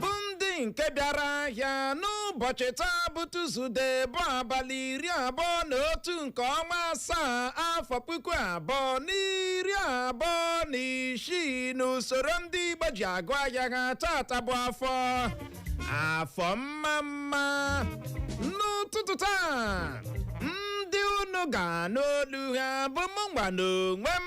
bụ ndị nke bịara ahịa n'ụbọchị taa bụ Tuzude bụ abalị iri abụọ na otu nke ọnwa asaa afọ puku abụọ na iri abụọ na isii n'usoro ndị Igbo ji agụ ahịa ha tata bụ afọ afọ mma mma n'ụtụtụ taa ndị unu ga-anụ olu ha bụ mụnwa n'onwe m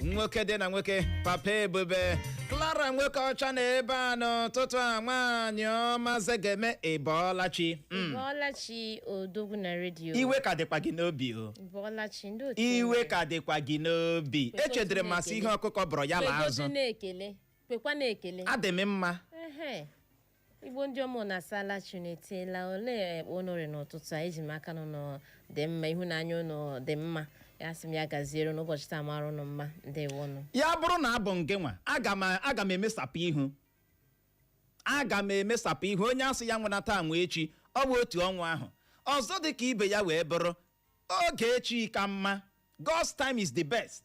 nwoke dị na nwoke papa ebube Clara nwoke ọcha na ebe a n'ụtụtụ a nwaanyị ọma zegeme ị bọọla chi Mm. Bọọla chi odogwu na redio. iwe ka dịkwa gị n'obi o Bọọla chi ndị otu iwe enyi. ka dịkwa gị n'obi Kwekwa echedere otu m a sị na-ekele. ihe ọkụkọ bọrọ ya la Kwekwa otu azụ na-ekele. Kwekwa na-ekele. adị m mma Ehe. Igbo ndị ọma unu asaala chi unu etela olee kpa unu rị n'ụtụtụ a eji m aka na ụnụ dị mma ịhụnanya ụnụ dị mma a sị m ya gaziere unu ụbọchị taa mara ụnụ mma ndewonụ ya bụrụ na abụ m gịnwa aga m emesapụ ihu aga m emesapụ ihu onye a sị ya nwena taa nwe echi ọ bụ otu ọnwa ahụ ọzọ dị ka ibe ya wee bụrụ oge chi ka mma God's time is the best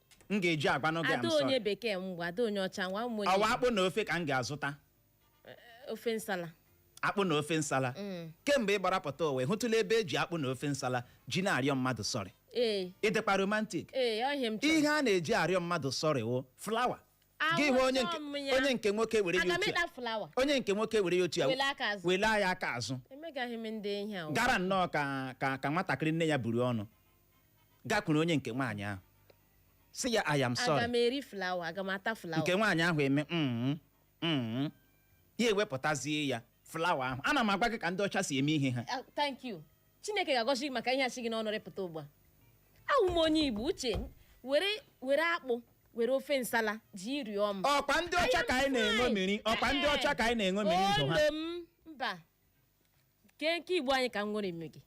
m ga-eji agwanụ gị ada I'm onye sorry. bekee ngwa ada onye ọcha ngwa ụmụ ọwa onye akpụ na ofe ka m ga-azụta ofe nsala akpụ na ofe nsala kemgbe ị gbara pụta ụwa ị hụtụla ebe e ji akpụ na ofe nsala ji na-arịọ mmadụ sọrị ee ị dịkwa romantik ee ọ ihe m chọrọ ihe a na-eji arịọ mmadụ sọrị wụ flawa gị hụ onye nke Awụsa m ya. onye nke nwoke were ya aga m otu ịta a flawa onye nke nwoke were ya otu a Wele aka azụ. wele ya aka azụ emegaghị m ndị ihe ahụ gara nnọọ ka ka ka nwatakịrị nne ya bụrụ ọnụ gakwuru onye nke nwaanyị ahụ sị ya I am aga sorry m eri flawa aga m ata flawa nke nwaanyị ahụ eme "Mm, mm." ya ewepụtazie ya flawa ahụ ana m agwa gị ka ndị ọcha si eme ihe ha Ah, thank you Chineke ga-agọzi gị maka ihe a si gị n'ọnụ rịpụta ugbu a awụ m onye Igbo uche m, were were akpụ were ofe nsala ji rịọ m ọkwa ndị ọcha ka anyị na-eṅomiri ọkwa ndị ọcha ka anyị na-eṅomiri ndụ ha Olu m, mba nke nke Igbo anyị ka m nwere eme gị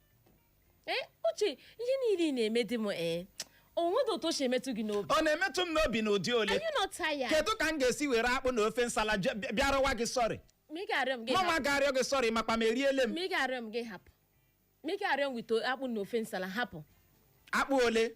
ee uche ihe niile ị na-eme dị m ee o nwedị otu o si emetụ gị n'obi ọ na-emetụ m n'obi n'ụdị ole are you not tired kedu ka m ga-esi were akpụ na ofe nsala je- bịa- bịa rịọwa gị sọrị ma ị ga-arịọ m gị mama hapụ ga-arịọ gị sọrị makwa m eriele m ma ị ga-arịọ m gị hapụ ma ị ga-arịọ m wete akpụ na ofe nsala hapụ akpụ ole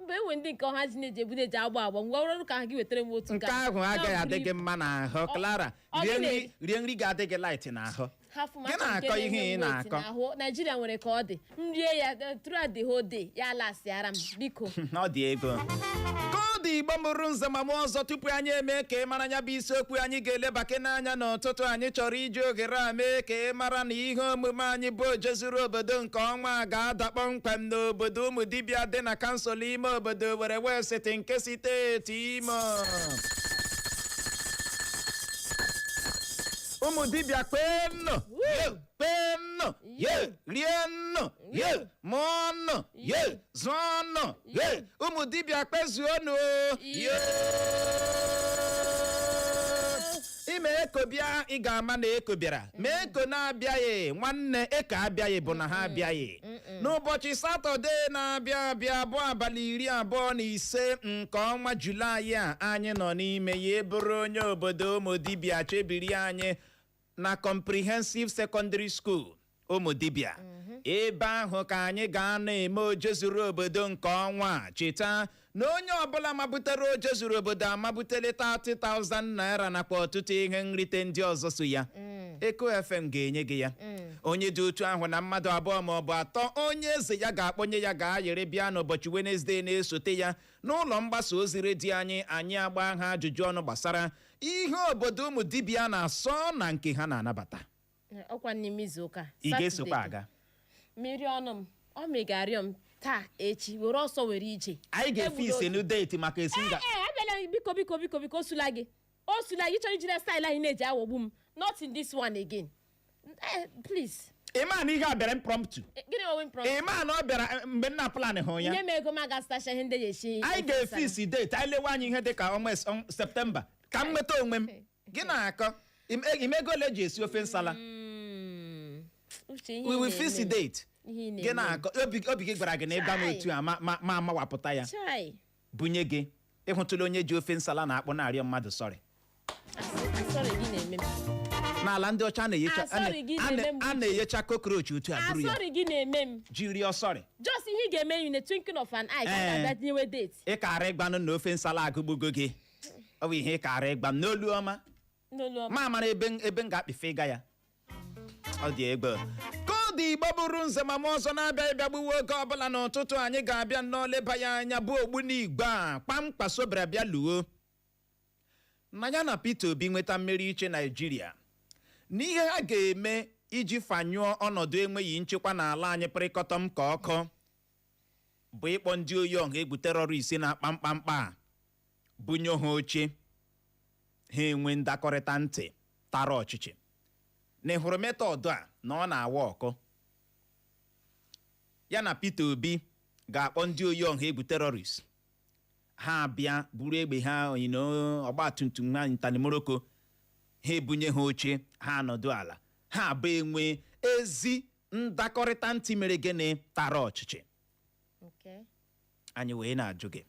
mgbe e nwe ndị nke ọha ji na-eji ebu na-eji agba agba ngwa ọrụ ka ha gị wetara m otu nke ahụ agaghị adị gị mma n'ahụ Clara ọ rie gịnị? nri rie nri ga-adị gị light n'ahụ hafụ Gị na-akọ ihe ị na-akọ. ahụ Naijiria nwere ka ọ dị m rie ya eh, throughout the whole day ya lasịara m biko na ọ dị ego ka ọ dị Igbo mụrụ nze ma mụọ ọzọ tupu anyị emee ka ị mara ya bụ isiokwu anyị ga-elebakwanụ anya n'ụtụtụ anyị chọrọ iji oghere a mee ka ị mara na ihe omume anyị bụ ojezu zuru obodo nke ọnwa a ga-ada kpọmkwem n'obodo Ụmụdibịa dị na kansụl ime obodo Owerri West nke steeti Imo Ụmụdibịa kwenụ kwenụ rienụ mụọnụ zụọnụ Hey, Ụmụdibịa kwezuonụ ime eko bịa ị ga-ama na eko bịara ma eko na-abịaghị nwanne eko abịaghị bụ na ha abịaghị n'ụbọchị satọde na-abịa abịa bụ abalị iri abụọ na ise nke ọnwa julaị a anyị nọ n'ime ya ị bụrụ onye obodo Ụmụdibịa chebiri anyị na comprehensive secondary school Ụmụdibịa ebe ahụ ka anyị ga-anọ eme oje zuru obodo nke ọnwa a. cheta na onye ọbụla mabutere oje zuru obodo amabutele 30,000 naira nakwa ọtụtụ ihe nrite ndị ọzọ so ya eko fm ga-enye gị ya onye dị otu ahụ na mmadụ abụọ ma ọ bụ atọ onye eze ya ga-akpọnye ya ga-ayịrị bịa n'ụbọchị wenezdee na-esote ya n'ụlọ mgbasa ozi redio anyị anyị agba ha ajụjụ ọnụ gbasara ihe obodo Ụmụdibịa na-asọ na nke ha na-anabata ọkwa n'ime izu ụka ị ga-esokwa Saturday. aga mmiri ọnụ m ọ megarịọ m taa echi were ọsọ were ije anyị ga-efix Egbula oge. new date maka esi nga ee abịala m, biko biko biko biko o zuola gị o zuola gị chọrọ ijiri style ahụ ị na-eji aghọgbu m not in this one again Eh, please ị ma na ihe a bịara impromptu Eh, gịnị ọ wụ impromptu ị ma na ọ bịara eh, mgbe m na-aplanhụ ya nye m ego m aga stacha ihe ndị ya echi anyị ga-efix date anyị lewe anya ihe dịka ọnwa es- ọnwa septemba ka m nweta onwe m gị na-akọ im- e- ị ma ego ole e ji esi ofe nsala we will fix the date ihe ị gị na-eme. na-akọ obi obi gị gwara gị na ị gwa m Chai. otu a ma ma ma amawapụta ya chai bunye gị ị hụtụla onye ji ofe nsala na akpụ na-arịọ mmadụ sọrị Sorry, gị na-eme m. n'ala ndị ọcha a na-eyecha- Ah, sorry, gị a na- na-eme m a na-eyecha cockroach otu a Ah, buru ya sorry, gị na-eme m. ji rịọ sọrị Just ihe ị ga-eme in a twinkle of an eye ka Eh. a ga-abịa tinyewe date. ị kara ịgwanụ m na ofe nsala agụgbugo gị ọ bụ ihe ị kara ịgwa m n'olu ọma n'olu ọma m amara ebe m- ebe m ga-akpịfe ịga ya ọ dị egbe ka ọ dị igbo bụrụ nze ma m ọzọ na-abịa ịbịa gbuwe oge ọbụla n'ụtụtụ anyị ga-abịa nnọọ leba ya anya bụ ogbunigwe a Kwankwaso bịara bịa luo na ya na Peter Obi nweta mmeri ịchị Naijiria na ihe ha ga-eme iji fanyụọ ọnọdụ enweghị nchekwa n'ala anyị pịrịkọtọm ka ọkụ bụ ịkpọ ndị oyi ọha egwu terrorist na-akpa mkpamkpa a bunye ha oche ha enwee ndakọrịta ntị tara ọchịchị na ịhụrụ method a na ọ na-awa ọkụ ya na Peter Obi ga-akpọ ndị oyi ọha egwu terrorist ha abịa buru egbe ha onyino ọgba tum tum ha ntanimoroko ha ebunye ha oche ha anọdụ ala ha abụọ enwee ezi ndakọrịta ntị mere gịnị tara ọchịchị anyị wee na-ajụ gị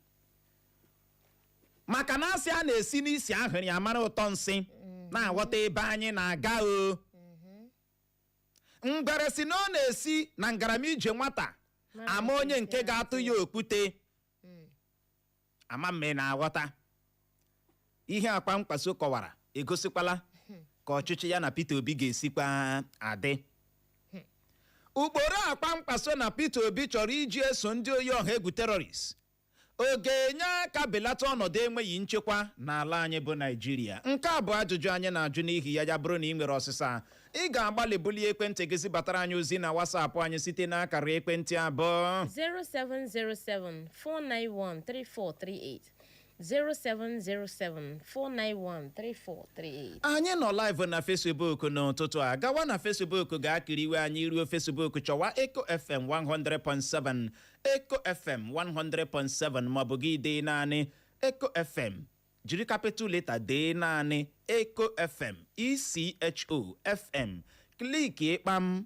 maka na a sị a na-esi n'isi ahụrụ amara ụtọ nsị ị na-aghọta ebe anyị na-aga ọ ngwere sị na ọ na-esi na ngarama ije nwata ama onye nke ga-atụ ya okwute ama m ma ị na-aghọta ihe a Kwankwaso kọwara egosikwala ka ọchịchị ya na Peter Obi ga-esikwa adị ụkpụrụ a Kwankwaso na Peter Obi chọrọ iji eso ndị oyi ọha egwu terrorist ọ ga-enye aka belata ọnọdụ enweghị nchekwa n'ala anyị bụ Naịjirịa nke a bụ ajụjụ anyị na-ajụ n'ihi ya ya bụrụ na ị nwere ọsịsa ị ga-agbalị bulie ekwentị gị zibatara anyị ozi na WhatsApp anyị site n'akara ekwentị a bụ 0707 491 3438 07074913438. anyị nọ live na facebook n'ụtụtụ a gawa na facebook gaa kiriwe anyị ruo facebook chọwa echo fm 100.7 echo fm 100.7 maọbụ gị dee naanị echo fm jiri capital letter dee naanị echo fm echo fm kliki kpam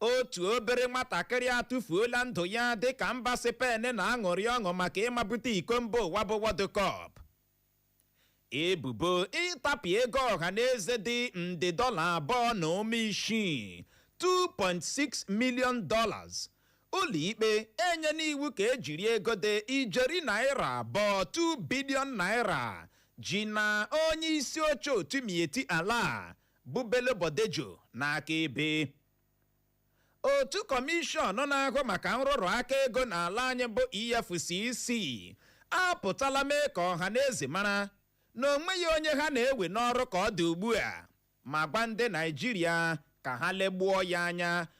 otu obere nwatakịrị atụfuola ndụ ya dịka mba Spain na-aṅụrị ọṅụ maka ịmabute iko mba ụwa bụ World Cup ebubo ịtapịa ego ọha na eze dị nde dọla abụọ na ụma isii 2.6 million dollars ụlọikpe enyena iwu ka e jiri ego dị ijeri naira abụọ 2 billion naira ji na onye isi oche otu Miyetti Allah bụ Bello Bodejo n'akaebe otu kọmishọn na-ahụ maka nrụrụ aka ego n'ala anyị bụ EFCC apụtala mee ka ọha na eze mara na o nweghị onye ha na-ewe n'ọrụ ka ọ dị ugbu a ma gwa ndị Naịjirịa ka ha legbuo ya anya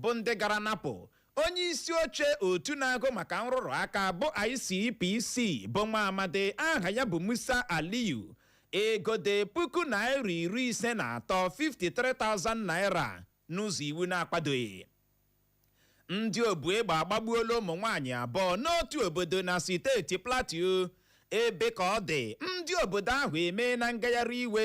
bụ ndị gara napụ onye isi oche otu na-ahụ maka nrụrụ aka bụ ICPC bụ nwa amadi aha ya bụ Musa Aliyu ego dị puku naira iri ise na atọ 53,000 naira n'ụzọ iwu na-akwadoghị ndị obu egbe agbagbuola ụmụ nwaanyị abụọ n'otu obodo na steeti Plateau ebe ka ọ dị ndị obodo ahụ emeena ngagharị iwe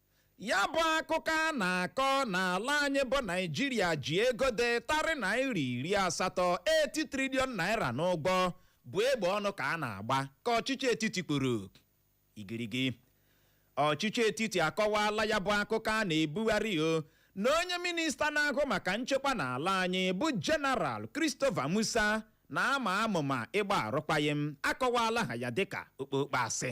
ya bụ akụkọ a na-akọ n'ala anyị bụ naijiria ji ego dị tarị naira iri asatọ 80 trilion naira n'ụgwọ bụ egbe ọnụ ka a na-agba ka ọchịchị etiti kwuru igirigi ọchịchị etiti akọwaala ya bụ akụkọ a na-ebugharị o na onye minista na-ahụ maka nchekwa n'ala anyị bụ jeneral christopher musa na-ama amụma ịgba arụkwaghịm akọwaala ha ya dịka okpokpo asị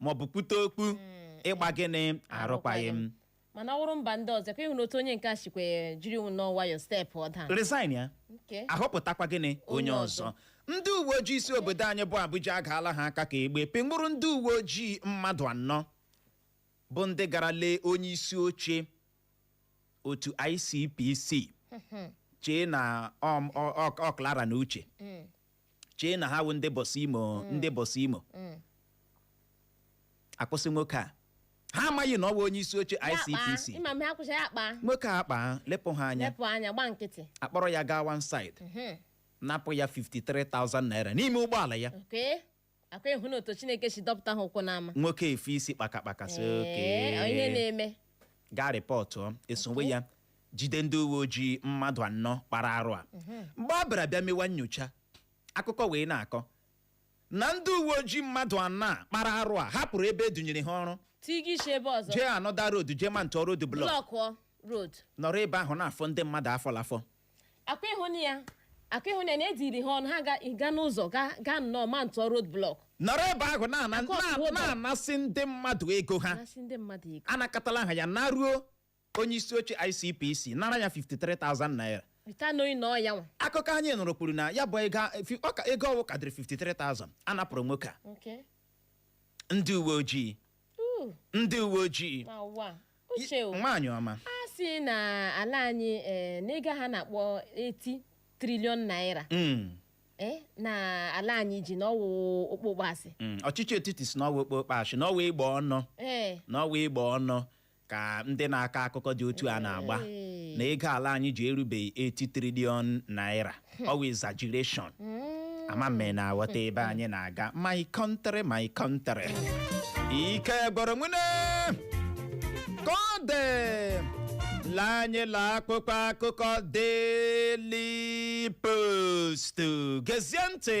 maọbụ kwute okwu ịgba gịnị arụkwaghị m mana ọ wụrụ mba ndị ọzọ ka ịhụ na otu onye nke a sikwe jiri nnọọ nwayọọ steepụọ down resignia nke ahọpụtakwa gịnị onye ọzọ ndị uwe ojii isi obodo anyị bụ abuja agaala ha aka ka egbe pịnwụrụ ndị uwe ojii mmadụ anọ bụ ndị gara lee onye isi oche otu icpc chee na ọ- ọ- ọ- ọ clara na uche chee na ha wụ ndị bọsị imo mm. ndị bọsị imo mm. akwụsị nwoke a ha amaghị na ọ bụ onye isi oche ICPC nwoke a kpaa lepụ ha anya akpọrọ ya gaa one side mm-hmm. napụ ya 53,000 naira n'ime ụgbọala ya akwa ịhụ na otu chineke si dọpụta ha ụkwụ n'ama nwoke efe isi kpakakpaka sị Ee, ọ ihe oke na-eme gaa rịpọtụ esowe ya jide ndị uwe ojii mmadụ anọ kpara arụ a mgbe a bịara bịa mewa nyocha akụkọ wee na-akọ na ndị uwe ojii mmadụ anọ a kpara arụ a hapụrụ ebe edunyere ha ọrụ tiga isi ebe ọzọ jee another road jee mountuo road block blọkụọ road nọrọ ebe ahụ na-afọ ndị mmadụ afọlafọ akwa ịhụ na ya akwa ịhụ na ya na ediri ha ọnụ ha ga- ịga n'ụzọ ga- gaa nnọọ mountuo road block nọrọ ebe ahụ na-ana- Akụ ọkụ ụlọ. na- na-anasị ndị mmadụ ego ha gasị ndị mmadụ ego anakọtala ha ya naruo onye isi oche icpc nara ya 53000 naira rita n'oyi na ọya nwa akụkọ anyị nụrụ kwuru na ya bụ ego fi- ọ ka- ego ọ wụ karịrị 53000 anapụrụ nwoke a Okay. ndị uwe ojii Ooh, ndị uwe ojii ma ụwa uche o. nwaanyị ọma a sị na ala anyị eh, na ego ha na-akpọ 80 trilion naira Mm, eh, na ala anyị ji na ọwụ okpokpo asị mm. ọchịchị etiti sị n'ọwa okpokpo asị n'ọwa egbe ọnụ ee n'ọwa egbe ọnụ ka ndị na-akọ akụkọ dị otu a na-agba na ego ala anyị ji erubeghị 80 triliọn naira ọwa exaggeration ama m na-aghọta ebe anyị na-aga my country my country ike gwụrụ nwune ka ọ dị lee anyị la akwụkwọ akụkọ Daily Post gezie ntị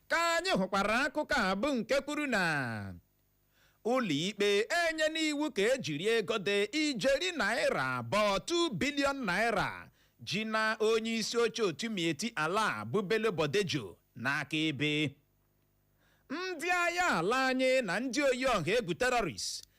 ka anyị hụkwara akụkọ a bụ nke kwuru na ụlọikpe enyena iwu ka ejiri ego dị ijeri naira abụọ 2 bilion naira ji na onye isi oche otu Miyetti Allah bụ Bello Bodejo n'aka ebe ndị agha ala anyị na ndị oyi ọha egwu terrorist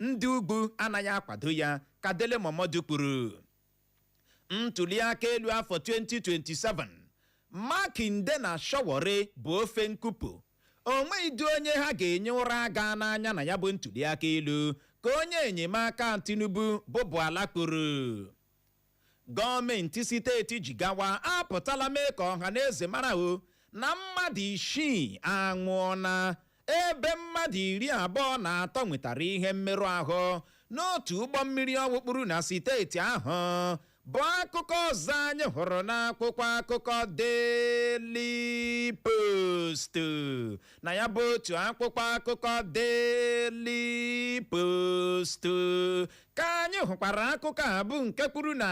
ndị ugwu anaghị akwado ya ka Dele Momodu kwuru ntuliaka elu afọ 2027 Makinde na Sowore bụ ofe nkupu o nweghịdị onye ha ga-enye ụra aga n'anya na ya bụ ntuliaka elu ka onye enyemaka Tinubu bụ Bwala kwuru Gọọmenti siteeti Jigawa apụtala mee ka ọhaneze mara o na mmadụ isii anwụọna ebe mmadụ iri abụọ na atọ nwetara ihe mmerụ ahụ n'otu ụgbọ mmiri ọ wụ kpuru na siteeti ahụ bụ akụkọ ọzọ anyị hụrụ n'akwụkwọ akụkọ Daily Post na ya bụ otu akwụkwọ akụkọ Daily Post ka anyị hụkwara akụkọ a bụ nke kwuru na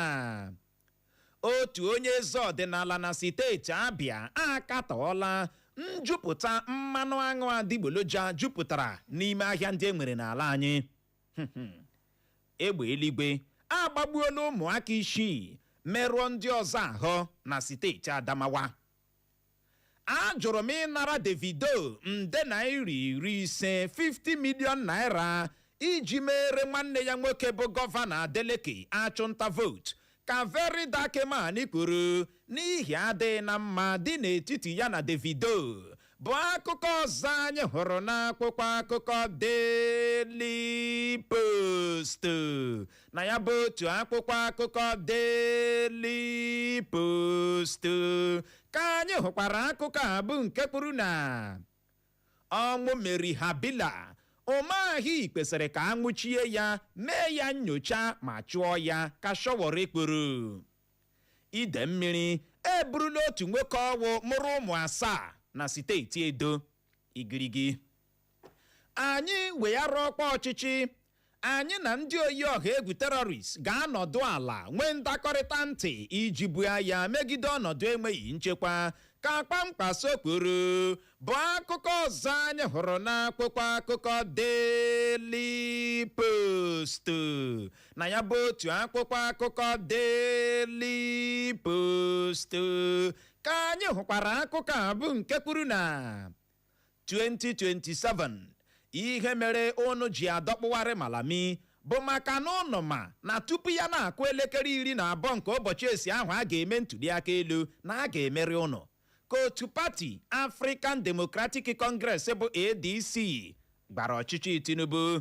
otu onye eze ọdịnala na steeti Abịa akatọọla njupụta mmanụ aṅụ adịgboloja jupụtara n'ime ahịa ndị e nwere n'ala anyị egbe eluigwe agbagbuola ụmụaka isii merụọ ndị ọzọ ahụ na steeti Adamawa Ajụrụ m ịnara Davido nde naira iri ise, 50 million naira, iji meere nwanne ya nwoke bụ Gọvanọ Adeleke achụnta vootu, ka Very Dark Man kwuru n'ihi adịghị na mma dị n'etiti ya na Davido, bụ akụkọ ọzọ anyị hụrụ n'akwụkwọ akụkọ Daily Post. na ya bụ otu akwụkwọ akụkọ Daily Post ka anyị hụkwara akụkọ a bụ nke kwuru na ọnwụ Mary Habila Umahi kwesịrị ka a nwụchie ya mee ya nyocha ma chụọ ya ka Sowore kwuru ide mmiri eburula otu nwoke ọ wụ mụrụ ụmụ asaa na steeti Edo igirigi anyị weghara ọkwa ọchịchị anyị na ndị oyi ọha egwu terrorist ga-anọdụ ala nwee ndakọrịta ntị iji buo agha megide ọnọdụ enweghị nchekwa ka Kwankwaso kwuru bụ akụkọ ọzọ anyị hụrụ n'akwụkwọ akụkọ Daily Post na ya bụ otu akwụkwọ akụkọ Daily Post ka anyị hụkwara akụkọ a bụ nke kwuru na 2027 ihe mere unu ji adọkpụgharị Malami bụ maka na ụnụ ma na tupu ya na-akụ elekere iri na abụọ nke ụbọchị esi ahụ a ga-eme ntuliaka elu na a ga-emeri ụnụ ka otu pati African Democratic Congress bụ ADC gwara ọchịchị Tinubu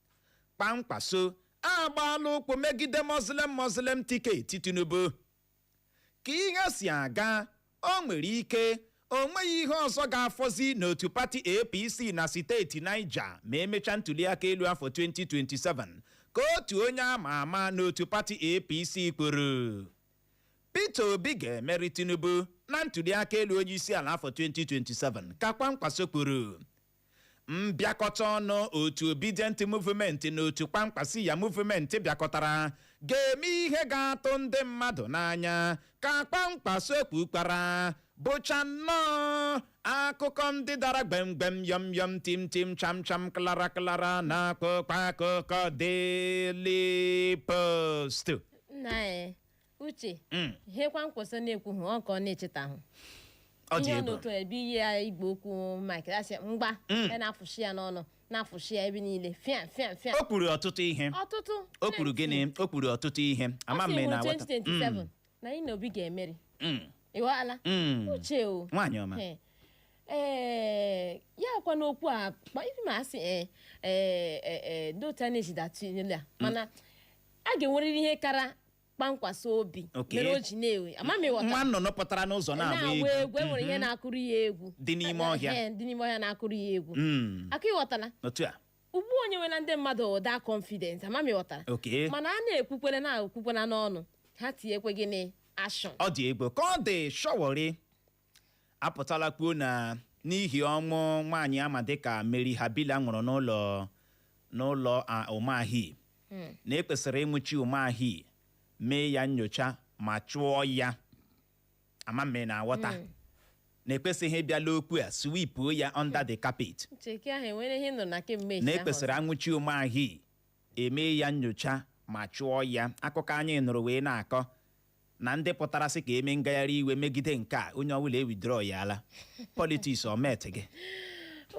kwankwaso agbaala ụkwụ megide muslim muslim tiketi tinubu ka ihe si aga o nwere ike o nweghị ihe ọzọ ga-afọzi n'otu pati apc na steeti niger ma emechaa ntuliaka elu afọ 2027 ka otu onye ama ama n'otu pati apc kwuru peter obi ga-emeri tinubu na ntuliaka elu onye isi ala afọ 2027 ka kwankwaso kwuru mbịakọta ọnụ otu obidient movement na otu kwankwasiyya movement bịakọtara ga-eme ihe ga-atụ ndị mmadụ n'anya ka kwankwaso kwukwara bụcha nnọọ akụkọ ndị dara gbemgbem yọm yọm tim tim cham cham klara klara na akwụkwọ akụkọ Daily Post nna anyị uche Mm. ihe kwankwaso na-ekwu ọ ka ọ na-echetahụ ọ dị ihe ọ egwu n'otu ebe iyi ya igwe okwu mike asị mgba Mm. ya na-afụshi ya n'ọnụ na-afụshi ya ebe niile fịa fịa fịa o kwuru ọtụtụ ihe ọtụtụ o kwuru gịnị o kwuru ọtụtụ ihe ama m na aghọta 2027 na anyị na obi ga-emeri Mm, ịghọala mm. uche o nwaanyị ọma Ee. ee ya kwa n'okwu a kpa- ibi ma asị ee ee ee ee ndị otu a na-ejide atụnyela mana a ga-enwerịrị ihe kara kwankwaso obi Okay. mere o ji na-ewe ama m ịghọta nwa nnụnụ pụtara n'ụzọ na-agba na-agba egwu egwu enwere ihe na-akụrụ ya egwu Dị n'ime ọhịa. Ehe, dị n'ime ọhịa na-akụrụ ya egwu Mm, aka ịghọtala otu a ugbu o nyewela ndị mmadụ ụda confidence ama m ịghọtara okay mana a na-ekwukwere na ekwukwere n'ọnụ ha tinyekwe gịnị action ọ dị egwu ka ọ dị sowore apụtala kwuo na n'ihi ọnwụ nwaanyị ama dịka Mary Habila nwụrụ n'ụlọ n'ụlọ Umahi hmm. na ekwesịrị ịnwụchi Umahi mee ya nyocha ma chụọ ya ama m ma ị na-aghọta hmm. na ekwesịghị ịbịala okwu a sweepuo ya under the carpet na ekwesịrị anwụchi Umahi eme ya nyocha ma chụọ ya akụkọ anyị nụrụ wee na-akọ na ndị pụtara sị ka eme ngagharị iwe megide nke a onye ọbụla ewidro ya ala politics omet gị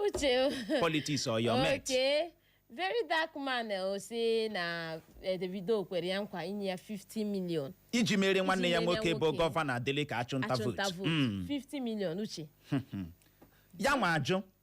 uche politics oya omet oke very dark man eh, ọ sị na eh, davido kwere ya nkwa inye ya 50 million iji mere nwanne ya Iji mere nwoke bụ nwoke. gọvanọ adeleke achụnta achụnta vootu vootu Mm. 50 million uche ya nwa ajụ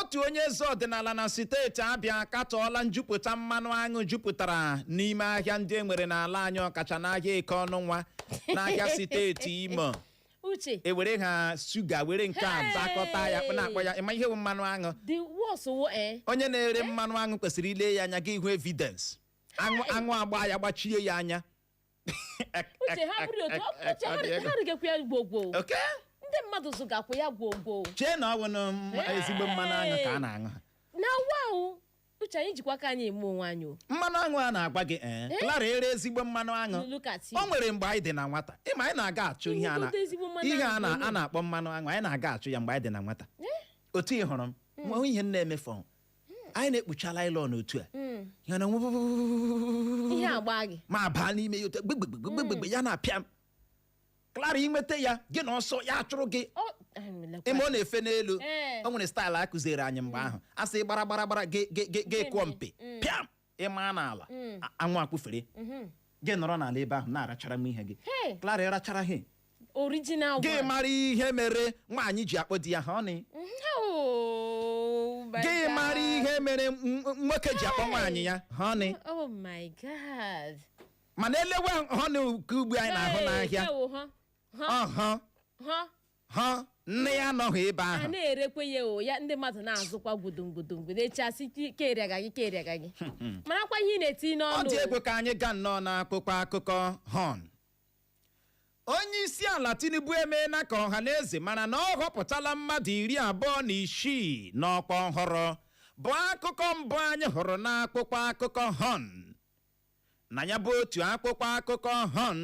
otu onye eze ọdịnala na steeti abịa akatọọla njupụta mmanụ aṅụ jupụtara n'ime ahịa ndị e nwere n'ala anyị ọkacha n'ahịa eke ọnụnwa n'ahịa steeti imo uche ewere ha shuga were nke a dakọta ya na-akpọ ya ịma ihe bụ mmanụ aṅụ the worst wo eh onye na-ere mmanụ aṅụ kwesịrị ile ya anya gị hụ evidence aṅụ aṅụ agba ya gbachie ya anya uche ha bụrụ otu ọ- uche ha rị- ha rịgakwa ya gwogwo oke ndị mmadụ zụgakwa ya gwogwo chee na ọ bụ na m- Hey! ezigbo mmanụ aṅụ ka a na-aṅụ ha na wa o uche anyị jikwa aka anyị eme onwe anyị o mmanụ aṅụ a na-agwa gị ee Eh? Clara ere ezigbo mmanụ aṅụ Look at him. o nwere mgbe anyị dị na nwata ị ma anyị na-aga achụ ihe a na Ịhụgote ezigbo mmanụ ihe a aṅụ na bụ a na-akpọ mmanụ aṅụ anyị na-aga achụ ya mgbe anyị dị na nwata otu ị hụrụ m nwa ihe m na-emefọ anyị na-ekpucha lailọn otu a ya na nwe- ihe agba gị ma baa n'ime ya otu a, gbegbegbegbegbegbe ya na-apịa m Clara i nweta ya gị na ọsọ ya achụrụ gị Ọ, anyị melekwa. ị ma ọ na-efe n'elu Ee. o nwere staịlụ a kuziere anyị mgbe ahụ a sị gbara gbara gbara gị gị- gị- gị kụọ mpi pịam ị maa n'ala Mm. a- anwụ akpụfere Mhm. gị nọrọ n'ala ebe ahụ na-arachara m ihe gị Hey. Clara ị rachara ihe original gị one. mara ihe mere nwaanyị ji akpọ di ya honey Oh, my gị God. mara ihe mere m- m- nwoke ji akpọ nwaanyị ya honey Oh my God. mana e lewe honey nke ugbu a anyị na-ahụ Hey, n'ahịa ewo, huh? Huh? ọhụ Huh? honey anọghị ebe ahụ a na-erekwa ya o ya ndị mmadụ na-azụkwa gwudongwudongwu na-echasị keria gị anyị keria gị anyị marakwa ihe ị na-eti n'ọnụ ọ dị egwu ka anyị gaa nnọọ n'akwụkwọ akụkọ Horn onye isi ala tinubu emeela ka ọha na eze mara na ọ họpụtala mmadụ iri abụọ na isii n'ọkwa ọhụrụ bụ akụkọ mbụ anyị hụrụ n'akwụkwọ akụkọ Horn na ya bụ otu akwụkwọ akụkọ Horn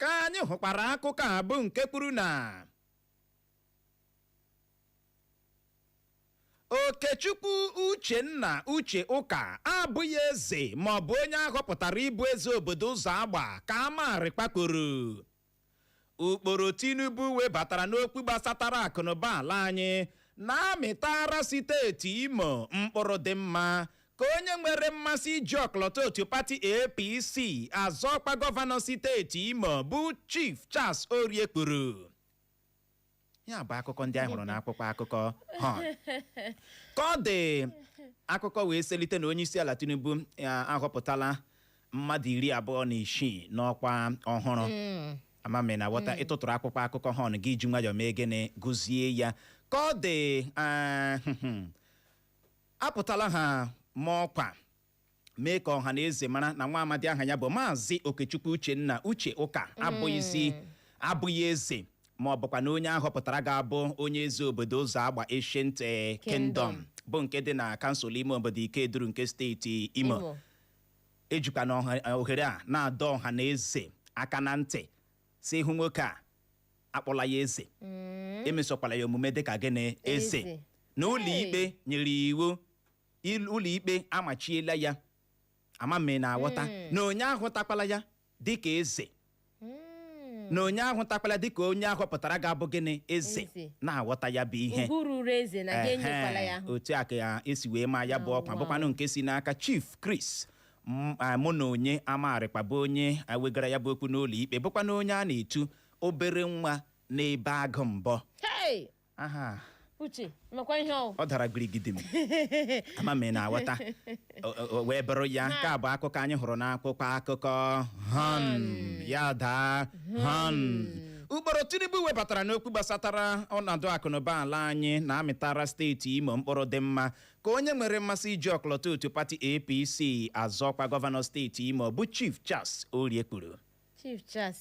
ka anyị hụkwara akụkọ a bụ nke kwuru na okechukwu uchenna uche ụka abụghị eze maọbụ onye a họpụtara ịbụ eze obodo ụzọagba ka a mara ọkwa kwuru ụkpụrụ tinubu webatara n'okwu gbasatara akụnụba ala anyị na-amịtara steeti imo mkpụrụ dị mma ka onye nwere mmasị iji ọkọlọtọ otu pati apc azọ ọkwa gọvanọ steeti imo bụ chief charles orie kwuru ya bụ akụkọ ndị anyị hụrụ n'akwụkwọ akụkọ Horn ka ọ dị akụkọ wee selite na onyeisiala tinubu ahọpụtala mmadụ iri abụọ na isii n'ọkwa ọhụrụ ama m na ị ghọta ị tụtụrụ akwụkwọ akụkọ Horn gị eji nwayọọ mee gịnị gụzie ya ka ọ dị ah, apụtala ha maa ọkwa mee ka ọha na eze mara na nwa amadi aha ya bụ maazị okechukwu uchenna uche ụka abụghịzi abụghị eze ma ọ bụkwa na onye a họpụtara ga-abụ onye eze obodo ụzọagba ancient eh, kingdom bụ nke dị na kansụl ime obodo ikeduru nke steeti imo Imo. ejikwa na ọha- eh, ohere a na-adọ ọha na eze aka na ntị sị ị hụ nwoke a akpọla ya eze emesokwala ya omume dịka gịnị eze Eze. na ụlọ ikpe nyere iwu il- ụlọikpe amachiela ya ama m ị na-aghọta Mm. na onye ahụtakwala ya dịka eze Mm. na onye ahụtakwala ya dịka onye a họpụtara ga-abụ gịnị eze Eze. na-aghọta ya bụ ihe ugwu ruru eze na gị enyekwala ya Ehe, otu a ka ya esi wee maa ya bụ Oh, ọkwa wow. bụkwanụ nke si n'aka chief chris m- a, mụnonye amarịkwa bụ onye wegara ya bụ okwu n'ụlọ ikpe bụkwanụ onye a na-etu obere nwa na-ebe agụ mbọ Hey! aha uche makwa ihe ọ wụ ọ dara girigidim ama m ị na-aghọta O- o- o wee bụrụ ya nke a bụ akụkọ anyị hụrụ n'akwụkwọ akụkọ horn ya daa horn ụkpụrụ tinubu webatara n'okwu gbasatara ọnọdụ akụnụba ala anyị na-amịtara steeti imo mkpụrụ dị mma ka onye nwere mmasị iji ọkọlọtọ otu pati apc azọkwa gọvanọ steeti imo bụ chief charles orie kwuru chief charles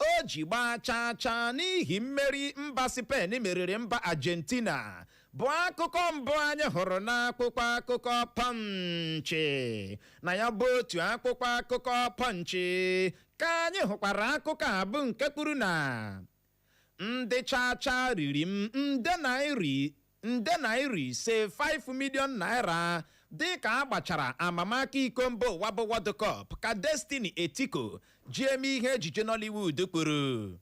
o ji gbaa chaa chaa n'ihi mmeri mba Spain meriri mba Argentina bụ akụkọ mbụ anyị hụrụ n'akwụkwọ akụkọ Punch na ya bụ otu akwụkwọ akụkọ Punch ka anyị hụkwara akụkọ a bụ nke kwuru na ndị chaa chaa riri m nde naira nde naira ise 5 million naira dịka a gbachara amamaka iko mba ụwa bụ World Cup ka Destiny Etiko ji eme ihe ejije Nollywood kwuru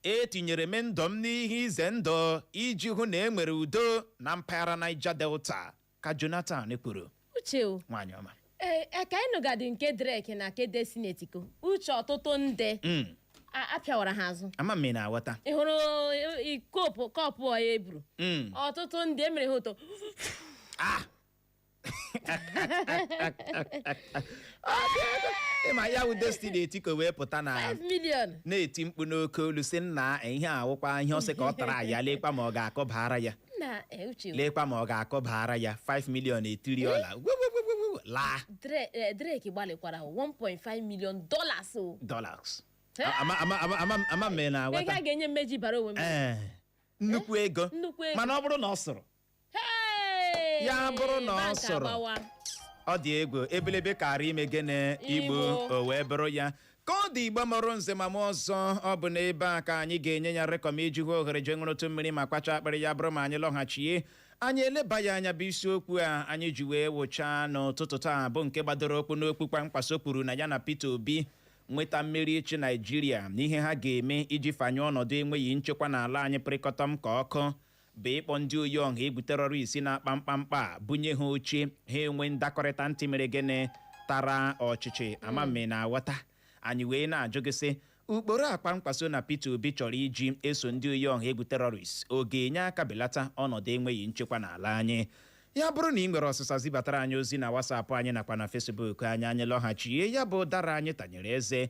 etinyere m ndụ m n'ihe ize ndụ iji hụ na e nwere udo na mpaghara Niger Delta ka Jonathan kwuru uche o nwaanyị ọma ee ka anyị nụgadị nke drake na nke destiny etiko uche ọtụtụ ndị Mm, a- apịawara ha azụ ama m ị na-aghọta ị hụrụ i- kọpụ kọpụ a e buru Mm. ọtụtụ ndị emere ha ụtọ ịma ya wụ destiny etiko wee pụta na 5 million na-eti mkpu n'oke olu sị nna ihe awụkwa ihe ọ sị ka ọ tara ya lekwa ma ọ ga-akụbara ya na eh, uche lekwa ma ọ ga-akụbara ya 5 million etiri ọla gwegwegwegwegwe, laa Dre- eh, drake gbalịkwara 1.5 million dollars o dollars Eh? ama ama ama ama ama m ị na- ego a aghọta ga-enye m m eji baara onwe m ee nnukwu ego nnukwu ego. mana ọ bụrụ na ọ sụrụ Hey! Ya bụrụ na ọ Bank sụrụ. agbawa. ọ dị egwu ebelebe kara ime gịnị igbu Igbu. o wee bụrụ ya ka ọ dị igbo mụrụ nze ma mụọ ọzọ ọ bụ n'ebe a ka anyị ga-enye ya rịkọm iji hụ ohere jee ṅụrụtụ mmiri ma kwachaa akpịrị ya bụrụ ma anyị lọghachie anyị eleba ya anya bụ isiokwu a anyị ji wee wụchaa n'ụtụtụ taa bụ nke gbadoro ụkwụ n'okwu Kwankwaso kwuru na ya na Peter Obi nweta mmeri ịchị naijiria na ihe ha ga-eme iji fanyụọ ọnọdụ enweghị nchekwa n'ala anyị pịrịkọtọm ka ọkụ bụ ịkpọ ndị oyi ọha egwu terrorist na-akpa mkpamkpa a bunye ha oche ha enwe ndakọrịta ntị mere gịnị tara ọchịchị ama mme na-aghọta anyị wee na-ajụ gị sị ụkpụrụ a Kwankwaso na Peter Obi chọrọ iji eso ndị oyi ọha egwu terrorist ọ ga-enye aka belata ọnọdụ enweghị nchekwa n'ala anyị ya bụrụ na ị nwere ọsịsa zibatara anyị ozi na WhatsApp anyị nakwa na Facebook anyị anyị lọghachie ya bụ ụdara anyị tanyere eze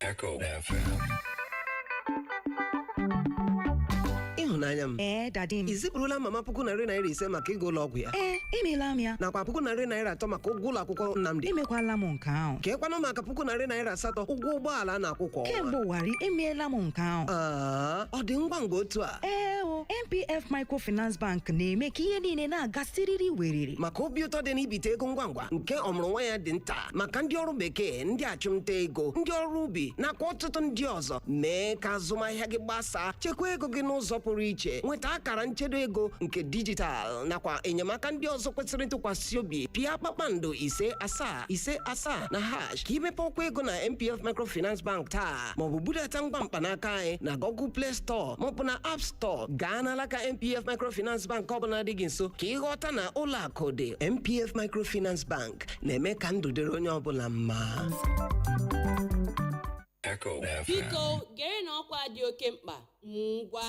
Echo FM. ịhụnanya m Ee, daddy m. i zipụrụla mama puku narị naira ise maka ịga ụlọ ọgwụ ya Ee, emeela m ya. nakwa puku narị naira atọ maka ụgwọ ụlọ akwụkwọ Nnamdi Emekwala m nke ahụ. kee kwanụ maka puku narị naira asatọ ụgwọ ụgbọala a na-akwụ kwa ọnwa Kemgbe ụwarị, emeela m nke ahụ. Aa, ọ dị ngwa ngwa otu a Ee o, NPF Microfinance Bank na-eme ka ihe niile na-aga siriri weriri. maka obi ụtọ dị n'ibite ego ngwa ngwa nke ọmụrụ nwa ya dị nta maka ndị ọrụ bekee ndị achụmnta ego ndị ọrụ ubi nakwa ọtụtụ ndị ọzọ mee ka azụmahịa gị gbasaa chekwa ego gị n'ụzọ pụrụ iche nweta akara nchedo ego nke dijitalụ nakwa enyemaka ndị ọzọ kwesịrị ntụkwasị obi pịa kpakpando ise asaa ise asaa na hash ka i mepee ọkwa ego na npf microfinance bank taa maọbụ budata ngwa mkpanaka anyị na google play store maọbụ na app store gaa n'alaka npf microfinance bank ọbụla dị gị nso ka ị ghọta na ụlọ akụ dị npf microfinance bank na-eme ka ndụ dịrị onye ọbụla mma Echo FM. biko gerenụ ọkwa dị oke mkpa ngwa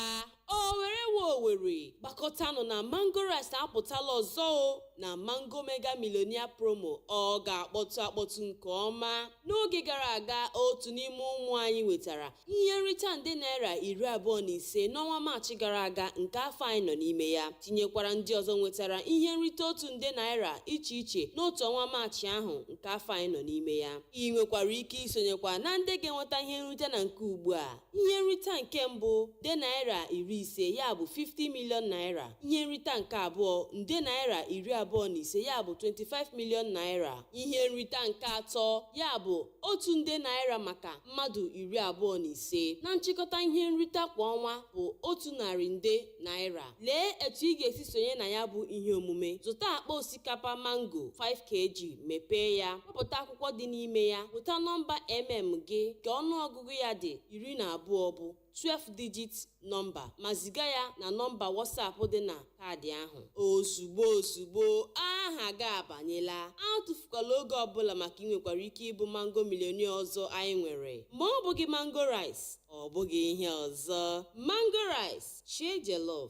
owere we owere gbakọtanụ na mango rice apụtala ọzọ o na mango mega millionaire promo ọ ga-akpọtụ akpọtụ nke ọma n'oge gara aga otu n'ime ụmụ anyị nwetara Ihe nrita nde naira iri abụọ na ise n'ọnwa Maachị gara aga nke afọ anyị nọ n'ime ya, tinyekwara ndị ọzọ nwetara ihe nrite otu nde naira iche iche n'otu ọnwa Maachị ahụ nke afọ anyị nọ n'ime ya. I nwekwara ike isonyekwa na ndị ga-enweta ihe nrite na nke ugbu a. Ihe nrita nke mbụ, nde naira iri ise ya bụ 50 million naira. Ihe nrita nke abụọ, nde naira iri abụọ na ise ya bụ 25 million naira. Ihe nrita nke atọ, ya bụ otu nde naira maka mmadụ iri abụọ na ise na nchịkọta ihe nrita kwa ọnwa bụ otu narị nde naira lee etu ị ga-esi sonye na ya bụ ihe omume zụta akpa osikapa mango 5 kg mepee ya wepụta akwụkwọ dị n'ime ya weta nọmba mm gị ka ọnụọgụgụ ya dị iri na abụọ bụ 12 digit nọmba ma ziga ya na nọmba WhatsApp dị na kaadị ahụ ozugbo ozugbo aha gị abanyela atụfukwala oge ọbụla maka i nwekwara ike ịbụ mango millionaire ọzọ anyị nwere ma ọ bụghị mango rice ọ bụghị ihe ọzọ mango rice share jollof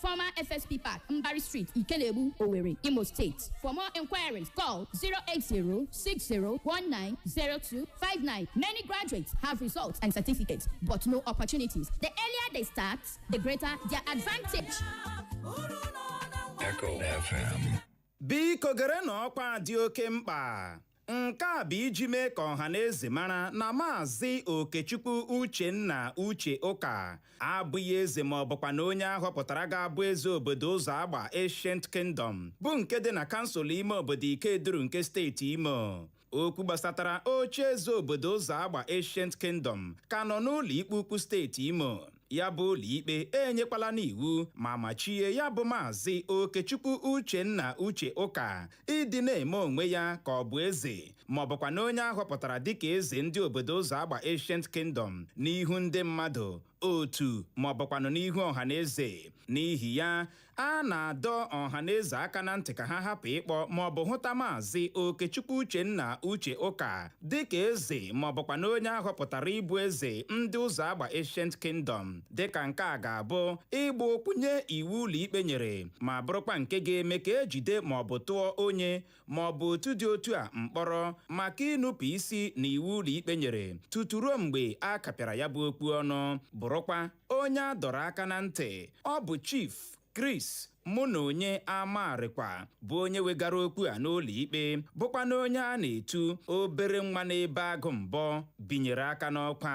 Former FSP Park, Mbari Street, Ikelebu, Owerri, Imo State. For more inquiries, call 080-6019-0259. Many graduates have results and certificates, but no opportunities. The earlier they start, the greater their advantage. Echo FM. biko gere na ọkwa dị oke mkpa Nke a bụ iji mee ka ọha na eze mara na Maazị Okechukwu Uchenna Uche Ụka abụghị eze ma ọ bụkwanụ onye ahọpụtara ga-abụ eze obodo Ụzọagba Ancient Kingdom bụ nke dị na kansụl ime obodo Ikeduru nke steeti Imo okwu gbasatara oche eze obodo Ụzọagba Ancient Kingdom ka nọ n'ụlọ ikpe ukwu steeti Imo ya bụ ụlọikpe enyekwalanụ iwu ma machie ya bụ maazị Okechukwu Uchenna Uche Ụka ịdị na-eme onwe ya ka ọ bụ eze ma ọ bụkwanụ onye ahọpụtara dịka eze ndị obodo Ụzọagba Ancient Kingdom n'ihu ndị mmadụ otu ma ọ bụkwanụ n'ihu ọha na eze n'ihi ya a na-adọ ọhaneze aka na ntị ka ha hapụ ịkpọ maọbụ hụta maazị okechukwu uchenna uche ụka dịka eze maọbụkwanụ onye a họpụtara ịbụ eze ndị Ụzọagba ancient kingdom dịka nke a ga-abụ ịgba okwu nye iwu ụlọikpe nyere ma bụrụkwa nke ga-eme ka ejide maọbụ tụọ onye ma ọ bụ otu dị otu a mkpọrọ maka ịnupụ isi na iwu ụlọikpe nyere tutu ruo mgbe a kapịara ya bụ okwu ọnụ bụrụkwa onye a dọrọ aka na ntị ọ bụ chief Chris Mụnonye Amarịkwa bụ onye wegara okwu a n'ụlọ ikpe bụkwanụ onye a na-etu obere nwa na-ebe agụ mbọ binyere aka n'ọkwa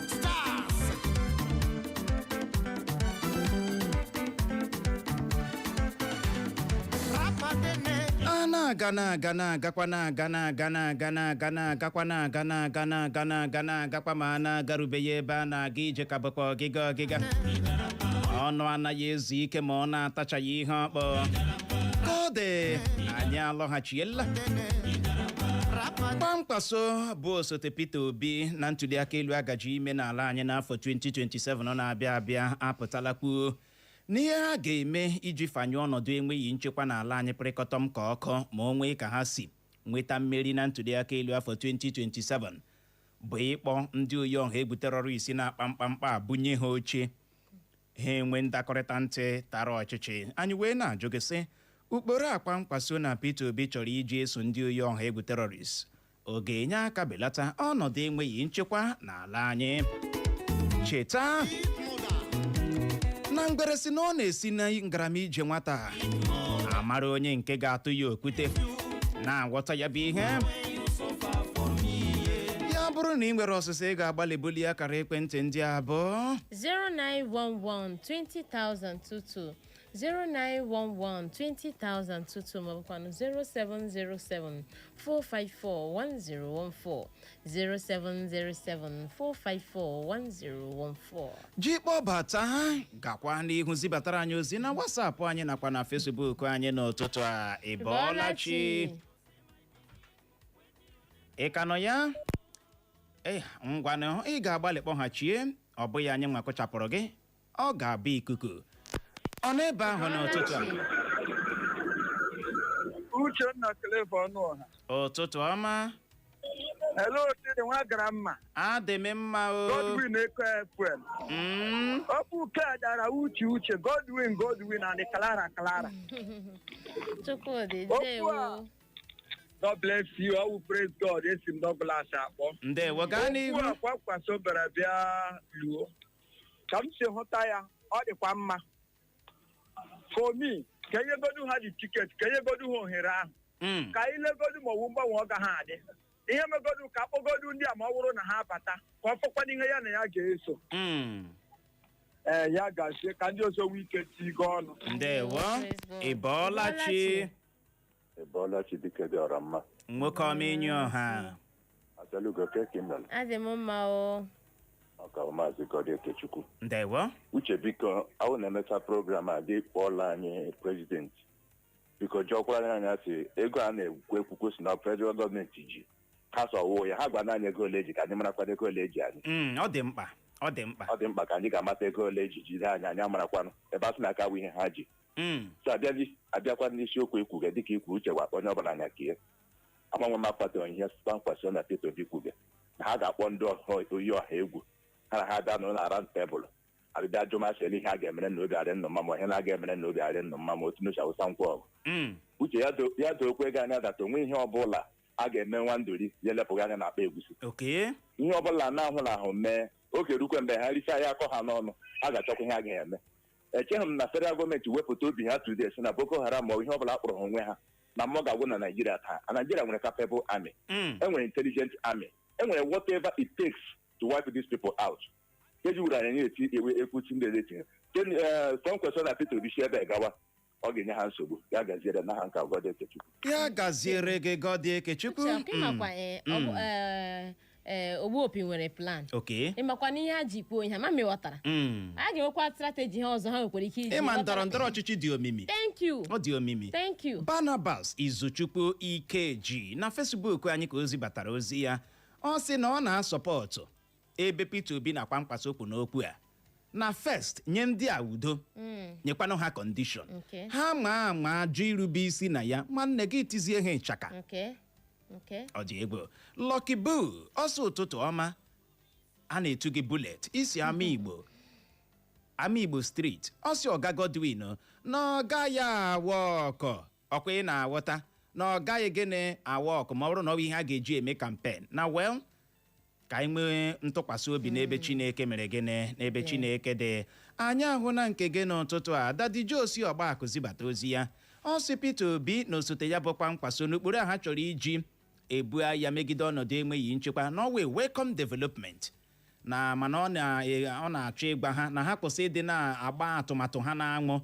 stars rapagene a na-aga na-aga na-agakwa na-aga na-aga na-aga na-aga na-agakwa na-aga na-aga na-aga na-aga na-agakwa ma a na-agarubeghị ebe a na-aga ije ka bụkwa ọgịga ọgịga ọnụ anaghị ezu ike ma ọ na-atachaghị ihe ọ kpụ ka ọ dị anyị alọghachiela rapagene Kwankwaso bụ osote Peter Obi na ntuliaka elu agaji ime n'ala anyị n'afọ 2027 ọ na-abịa abịa apụtala kwuo na ihe ha ga-eme iji fanyụọ ọnọdụ enweghị nchekwa n'ala anyị pịrịkọtọm ka ọkụ ma o nwee ka ha si nweta mmeri na ntuliaka elu afọ 2027 bụ ịkpọ ndị oyi ọha egwu terọrist na-akpa mkpamkpa bunye ha oche ha enwe ndakọrịta ntị tara ọchịchị anyị wee na-ajụ gị sị ụkpụrụ a Kwankwaso na Peter Obi chọrọ iji eso ndị oyi ọha egwu terọrist ọ ga-enye aka belata ọnọdụ enweghị nchekwa n'ala anyị cheta na ngwere sị na ọ na-esi na ngarama ije nwata amara onye nke ga-atụ ya okwute na-aghọta ya bụ ihe ya bụrụ na ị nwere ọsịsa ị ga-agbalị bulie akara ekwentị ndị a bụ 0911 2022 091120022 maọbụkwanụ 0707 4541014 0707 4541014 ji kpọbata ha gakwa n'ihu zibatara anyị ozi na WhatsApp anyị nakwa na Facebook anyị n'ụtụtụ a ịbọọlachi ị ka nọ ya ee ngwanụ ị ga-agbalị kpọghachie ọ bụghị anyị nwa kụchapụrụ gị ọ ga-abụ ikuku ọ nọ ebe ahụ n'ụtụtụ a uchenna Clever Ọnụọha ụtụtụ ọma ele otiri nwa gara mma adị m mma o godwin eko fm Mm, ọ bụ uke a dara uche uche godwin godwin and clara clara Chukwudi, Okwu a. ndewo. god bless you ọwụ praise god esi m Douglas akpọ ndewo gaa n'ihu Okwu a Kwankwaso bịara bịa luo ka m si hụta ya ọ dịkwa mma for me ka enyegodu ha the ticket ka enyegodu ha ohere ahụ Mm. ka anyị legodu ma ọwụ mgbanwe ọ gaha adị ihe megodu ka akpọgodu ndị a ma ọ wụrụ na ha abata ka ọ fọkwana ihe ya na ya ga-eso Mm. ee ya gazie ka ndị ọzọ nwee ike tinye ọnụ ndewo Praise God. ịbọọla chi Ịbọọla chi. Ịbọọla chi dike dị ọra mma. nwoke ọma enyi ọha Asalugo kee ka i mere adị m mma o ọka maazị Gọdị Ekechukwu. ndewo Uche biko awụ na-emecha program a gị kpọọla anyị president biko jụọkwara anyị ya sị ego a na-ekwu ekwukwu si na federal government ji ha sọwụ ya ha gwanụ anyị ego ole eji ka anyị marakwana ego ole eji anyị Mm, ọ dị mkpa ọ dị mkpa ọ dị mkpa ka anyị ga-amata ego ole eji jide anyị anyị amarakwanụ ebe a sị na aka bụ ihe ha ji Mm. so abịazi abịakwa n'isiokwu ekwuge dịka ikwu uche gwa onye ọbụla anya ka ihe agbanwe ma kpatara ihe Kwankwaso na Peter Obi kwuge na ha ga-akpọ ndị ọha- oyi ọha egwu ha na ha bịa nọọ na round table abịbịa jụmasịrị ihe a ga-emere na obi adị ụnụ mma ma ihe na-aga emere na obi adị ụnụ mma ma otu n'uche awụsa ngwa ọgụ Mm. uche ya do- ya dookwa gị anya that onwe ihe ọbụla a ga-eme nwa nduri ya elepụghị anya na akpa egwusi Okay. ihe ọbụla na-ahụ na ahụ mee oge rukwe mgbe ha richaa ya akọ ha n'ọnụ a ga-achọkwa ihe a ga-eme echeghị m na federal government wepụta obi ha today sị na boko haram ma ọ bụ ihe ọ bụla kpọrọ ha onwe ha na mmụọ ga-agwụ na naijiria taa a naijiria nwere capable army Mm. enwere intelligent army enwere whatever it takes to wipe these people out keji wuru anyị na-eti ewe ekwuchi ndị eleti Kwankwaso na peter obi si ebe gawa ọ ga-enye ha nsogbu ya gaziere na ha nke gọdị ekechukwu ya gaziere gị gọdị ekechukwu Uche, ọkụ ịmakwa eh, ọ bụ, eh, eh, ogbuopi nwere plan okay ịmakwa na ihe ha ji kwuo ihe ha ma mewatara Mm. a ga-enwekwa strategy ha ọzọ ha nwekwara ike iji ịma ghọtara ndọrọ ndọrọ ọchịchị dị omimi thank you ọ dị omimi thank you barnabas izuchukwu ikeji na Facebook anyị ka o zibatara ozi ya ọ sị na ọ na-asupport ebe Peter Obi na Kwankwaso kwụ n'okwu a na first nye ndị a udo nyekwanụ ha kọndishọn Okay. ha ma ama jụ irube isi na ya nwanne gị tizie ha ịchaka Okay. Okay. ọ dị egwu Lucky Boo ọ sị ụtụtụ ọma a na-etu gị bulet isi ama igbo ama igbo street ọ sị ọga Godwin na ọ gaghị a-work o ọkwa ị na-aghọta na ọ gaghị gịnị a-work ma ọ bụrụ na ọ bụ ihe a ga-eji eme kampen na well ka anyị nwee ntụkwasị obi n'ebe chineke mere gịnị n'ebe chineke dị anyị ahụna nke gị n'ụtụtụ a Daddy Josi Ọgbakụ zibata ozi ya ọ sị Peter Obi na osote ya bụ Kwankwaso na ụkpụrụ a ha chọrọ iji ebu agha megide ọnọdụ enweghị nchekwa na ọ wụ a welcome development na mana ọ na- ọ na-achọ ịgwa ha na ha kwụsị ịdị na-agba atụmatụ ha n'anwụ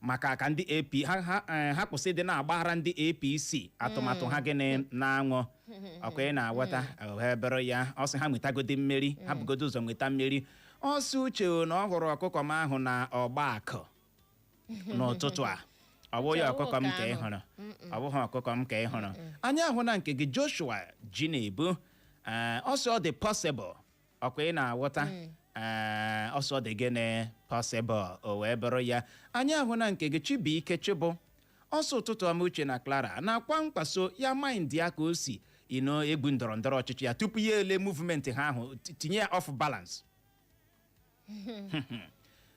maka ka ndị AP ha ha eh, ha kwụsị ịdị na-agbara ndị APC atụmatụ ha gịnị n'anwụ ọkwa ị na-aghọta o wee bụrụ ya ọ sị ha nwetagodi mmeri ha bugodi ụzọ nweta mmeri ọ sị uche na ọ hụrụ ọkụkọ m ahụ na Ọgbakụ n'ụtụtụ a ọ bụghị ọkụkọ m ka ị hụrụ ọ bụghị ọkụkọ m ka ị hụrụ anyị ahụna nke gị Joshua ji na-ebu eh, ọ sị ọ dị possible ọkwa ị na-aghọta ee ọ sị ọ dị gịnị possible o wee bụrụ ya anyị ahụna nke gị Chibuike Chibụ ọ sị ụtụtụ ọma Uche na Clara na Kwankwaso ya mind ya ka o si egwu ndọrọ ndọrọ ọchịchị ya tupu ya ele movement ha ahụ ti- tinye ya off balance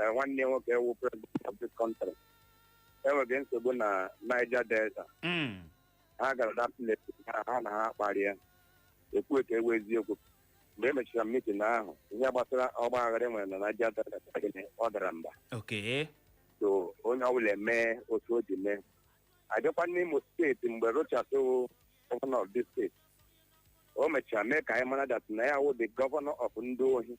eh, nwanne ya nwoke wụ president of this country enweghị nsogbu na Niger Delta Mm. ha gara na pleti ha ha na ha kparịa ekwuo ka ọ wụ eziokwu mgbe e mechara mitin ahụ ihe gbasara ọgbaaghara e nwere na Niger Delta gịnị ọ dara mba Okay. so onye ọbụla eme otu o ji mee a bịakwa n'Imo steeti mgbe Rochas wụ gọvanọ of this steeti o mechara mee ka anyị mara that na ya wụ the governor of ndị ohi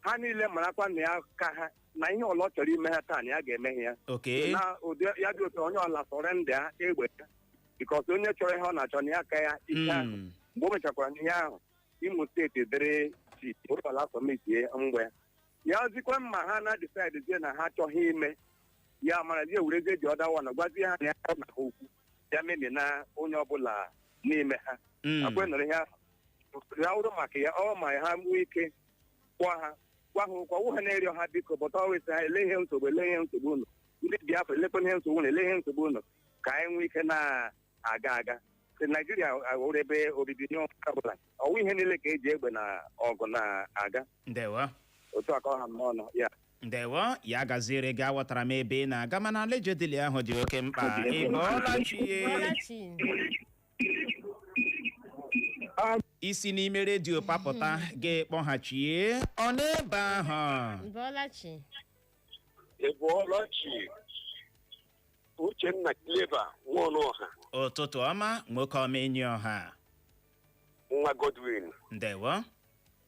ha niile marakwa na ya ka ha na ihe ọla ọ chọrọ ime ha taa na ya ga-eme ha ya okay na ụdị ya dị otu onye ọla surrender egbe ya bikọs onye chọrọ ihe ọ na-achọ na ya ka ya ike ahụ Mm. mgbe o mechakwara n'ihe ahụ Imo steeti dere jii ụlọala sọmitie mgbe ya ozikwa mma ha na disaidzie na ha achọghị ime ya mara zie werezie ji ọda wana gwazie ha na ya na ha okwu ya memi na onye ọbụla n'ime ha Mm. akwe nụrụ ihe ahụ ya wụrụ maka ya ọ ma ha nwee ike gwa ha gwa ha ụkwa wụ ha na-eri ọha biko bọta ọ wụ sị ha ele ihe nsogbu ele ihe nsogbu unu ndị Biafra elekwa ihe nsogbu unu ele ihe nsogbu unu ka anyị nwee ike na-aga aga Sị Naijiria wụrụ ebe obibi nye onye ọbụla ọ wụghị ihe niile ka e ji egbe na ọgụ na-aga ndewo otu a ka ọ ha m n'ọnụ ya ndewo ya gaziere gị aghọtara m ebe ị na-aga mana allegedly ahụ dị oke mkpa ị bọọla chi Bọọla chi. isi n'ime redio papụta gị kpọghachie ọ n'ebe ahụ Ị bọọla chi. Ị bọọla chi Uchenna Clever Nwaọnụọha ụtụtụ ọma nwoke ọma enyi ọha nwa Godwin ndewo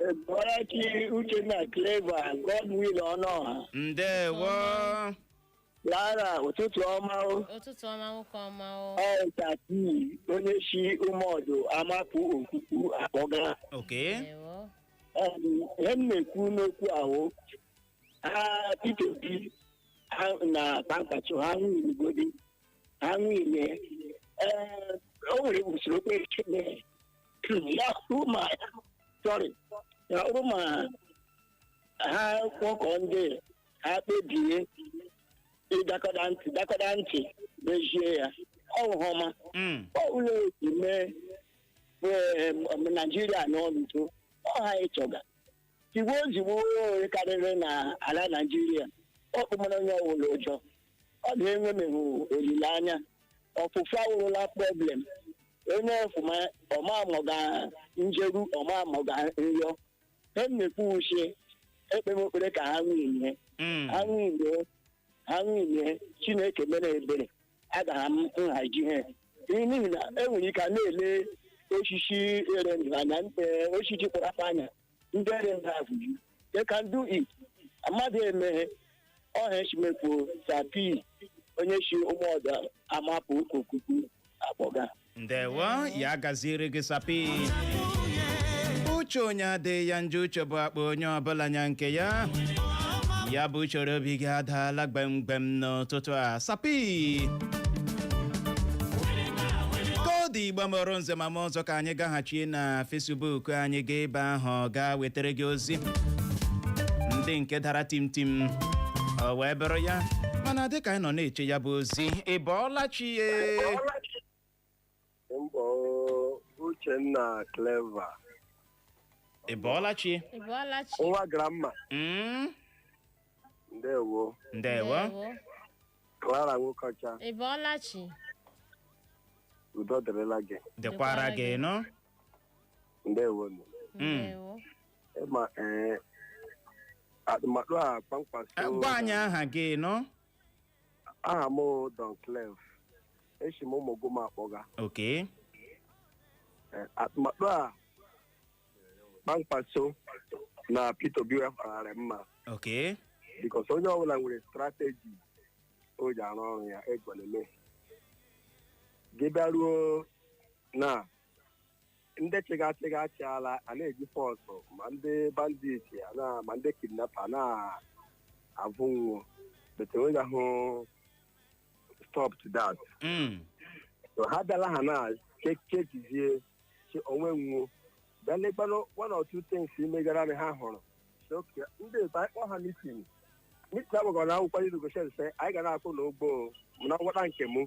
Ị bọọla chi Uchenna Clever Godwill Ọnụọha ndewo Lara ụtụtụ ọma o ụtụtụ ọma nwoke ọma o ọ Sapi onye si Ụmụọdụ Amapụ Okuku akpọga okay ndewo ọ bụ ihe m na-ekwu n'okwu ahụ ha Peter Obi ha na Kwankwaso ha winiegodi ha winie ee o nwere usoro okpukpe ya bụrụ ma sorry ya bụrụ ma ha kpọkọ ndị ha kpebie ịdakọda ntị dakọda ntị mezie ya ọhụma Mm. ọ ụlọ esi mee ee, m- naijiria n'ọnụtụ ọha ịchọga tigbuo ozigbo onye karịrị na ala naijiria ọ kpụmara onye ọwụla ụjọ ọ dị enwemeghị olileanya ọfụfụ awụrụla problem onye ọfụma ọmamọga njeru ọmamọga nrịọ he mmekwu uche ekpe m ekpere ka ha winie Mm. ha winie ha winie Chineke mere ebere agaghị m nhaji ha n'ihi na enwere ike a na-ele osisi ere ndụ anya eh, osisi kpọrọ anya ndị ere ndị azụ ji they can do it mmadụ emeghe ọha echimekwu sapi onye si Ụmụọdụ Amapụ Okuku akpọga ndewo ya gaziere gị sapi uche onye adịghị ya njọ uche bụ akpa onye ọbụla nya nke ya ya bụ uchoro obi gị adaala gbemgbem n'ụtụtụ a sapi ka ọ dị Igbo mụrụ nze mụọ ọzọ ka anyị anyị gaghachi na Facebook anyị gaa ebe ahụ gaa wetara gị ozi ndị nke dara tim tim o wee bụrụ ya mana dịka anyị nọ na-eche ya bụ ozi ị bọọla chi ya Mbọ Uchenna Clever. ị bọọla chi Ị bọọla chi? Nwa Gramma. Mm, ndewo ndewo Clara Nwokocha ị bọọla chi udo dịrịla gị dịkwara gị nụ ndewo nụ. ndewo ịma ee atụmatụ a Eh, Kwankwaso gwa anyị aha gị nụ aha m bụ Don Clef esi m Ụmụgụma akpọga okay Eh, atụmatụ a Kwankwaso na Peter Obi wepụtara mma ok because onye ọbụla nwere strategy o ji arụ ọrụ ya egwelele gị bịaruo na ndị chịgachịga achịala a na-eji force ma ndị bandit a na- ma ndị kidnapper na-avụ nwọ but e nwegahụ stop to that Mm. so ha bịala ha na che- chekizie che onwe nwọ bịa lekwanụ one or two things megara anyị ha hụrụ Sị, "Okay, ndị otu anyị kpọọ ha meeting meeting agbagọ na akwụkwọ ndị negotiate sị anyị ga na-akwụ nwọ ụgwọ o, mana ngwọta nke mụ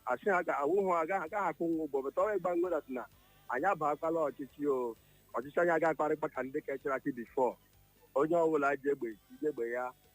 asị ha ga awụ hụ agaghị agaghị akwụ nwọ ụgwọ but ọ wụ ịgwa nwọ that anyị abakwala ọchịchị o ọchịchị anyị agaghị akparịkpa ka ndị kechara chi before onye ọbụla ji egbe ji egbe ya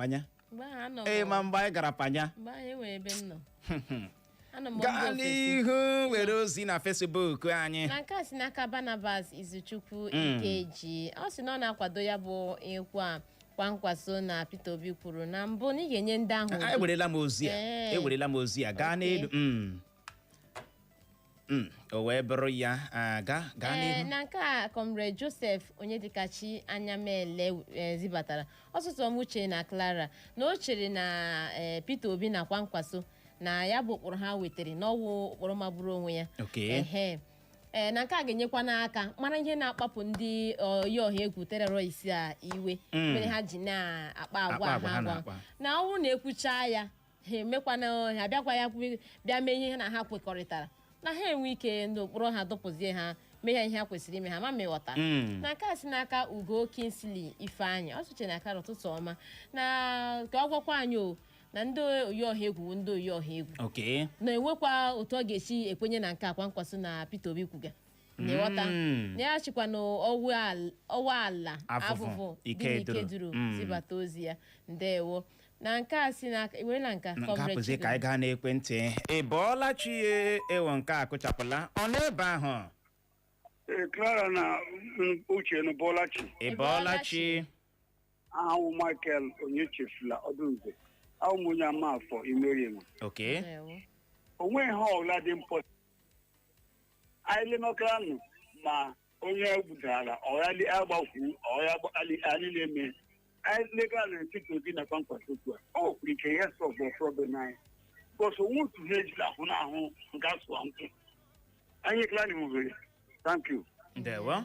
panya mgbe ahụ anọ m- ị ma mgbe anyị gara panya mgbe ahụ enwere ebe m nọ anọ m mba gaa ofesi n'ihu were ozi na Facebook anyị na nke a si n'aka Barnabas Izuchukwu Ikeji ọ sị na ọ na-akwado ya bụ okwu a Kwankwaso na Peter Obi kwuru na mbụ na ị ga-enye ndị ahụ anyị werela m ozi a Ee. ewerela m ozi a gaa Okay. n'elu Mm. Mm, o wee bụrụ ya ah, gaa gaa Ee, n'ihu na nke a Comrade Joseph Onyedikachi Anyamele e, zibatara ọ sị ụtụtụ ọma Uche na Clara na o chere na e, Peter Obi na Kwankwaso na ya bụ ụkpụrụ ha wetara na ọ wụ ụkpụrụ magburu onwe ya Okay. Ehe. Ee, na nke a ga-enyekwa n'aka mara ihe na-akpapụ ndị oyi ọha egwu terrorist a iwe Mm. mere ha ji na-akpa agwa ha na-akpa. na ọ wụ na e kwuchaa ya ha emekwana ha bịakwa ya kwe- bịa mee ihe ha na ha kwekọrịtara na ha enwe ike n'okpuru ha dụpụzie ha mee ha ihe ha kwesịrị ime ha ma m ghọta Mm. na nke a si n'aka Ugo Kingsley Ifeanyị ọ sị Uche na Clara ụtụtụ ọma na ka ọ gwakwa anyị o na ndị oyi ọha egwu bụ ndị oyi ọha egwu okay na e nwekwa otu ọ ga-esi ekwenye na nke Kwankwaso na Peter Obi kwuga na-aghọta Mm. na ya sikwa na Owal- Owalla Avuvu dị n'Ikeduru. Mm. zibata ozi ya ndewo na nke a si n'aka werela nke Comrade hapụzie ka Chido. anyị gaa n'ekwentị ị bọọla chi ya ewo nke a kụchapụla ọ n'ebe ahụ Ee, Clara na mm, Uche unu abọọla chi. ị bọọla chi a wụ m Michael Onyechefula Ọdụnze a wụ m onye Amafor Imerienwe okay Ndewo. onwe ihe ọbụla dị mpọ anyị lenọtara nụ ma onye gbudara ọghali agbakwu ọghali agbakali anyị na-eme anyị legara na Peter Obi na Kwankwaso otu a ọ kwuru ike ya solve problem anyị because onwe otu ha ejila ahụ n'ahụ nke asụwa nkwụ anyị ekele anyị nwere thank you ndewo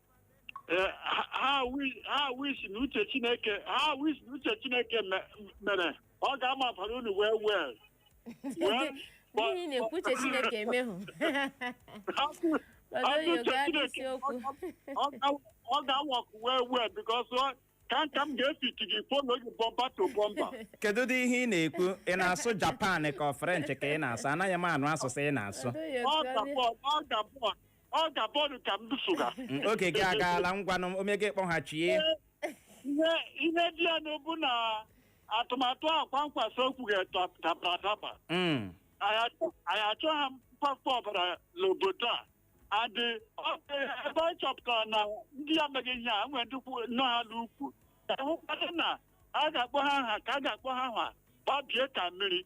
Eh, ha- ha wi- ha wish na uche chineke ha wish na uche chineke me- mere ọ ga-amabara unu well well Well, but- N'ihi na-ekwu uche Chineke emehụ. Hapụ- Ọzọ hapụ yo uche gaa Chineke. n'isiokwu. Ọ ga- ọ ga-awakwu well well because ka nka m ga-efiti gị follow gị bumper to bumper kedu dị ihe ị na-ekwu ị na-asụ Japan ka ọ French ka ị na-asụ anaghị m anụ asụsụ ị na-asụ Ọzọ yo ọ gaa ga-abụ ọ ga-abụ ọ ga-abụ ọdụ ka m so ha Mm, oge gị agaala ngwanụ Omega kpọghachie ihe ihe dị ya n'obu na atụmatụ a Kwankwaso kwu ga-adabara adaba Mm, anyị achọ- anyị achọha mkwafu ọbara n'obodo a and ebe anyị chọpụtara na ndị ya mega ihe a nwere ndị kwu- nọ ha n'ukwu ka hụkwadị na a ga-akpọ ha aha ka a ga-akpọ ha aha gbabie ka mmiri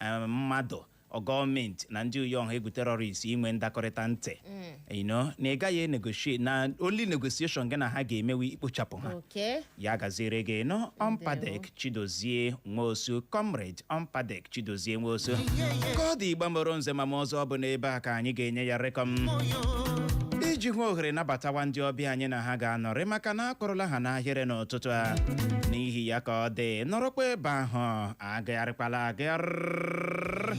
eh, mmadụ ọ gọọmenti na ndị oyi ọha egwu terrorist inwe ndakọrịta ntị you know, na ị gaghị enegotiate na only negotiation gị na ha ga-eme wụ ikpochapụ ha okay ya gaziere gị nọ ọmpadek chidozie nwosu comrade ọmpadek chidozie nwosu ka ọ dị Igbo mụrụ nze ma mụọ ọzọ ọ bụ n'ebe a ka anyị ga-enye ya rekọm iji hụ ohere nabatawa ndị ọbịa anyị na ha ga-anọrị maka na akwụrụla ha n'ahịrị n'ụtụtụ a n'ihi ya ka ọ dị nọrọkwa ebe ahụ agagharịkwala agagharị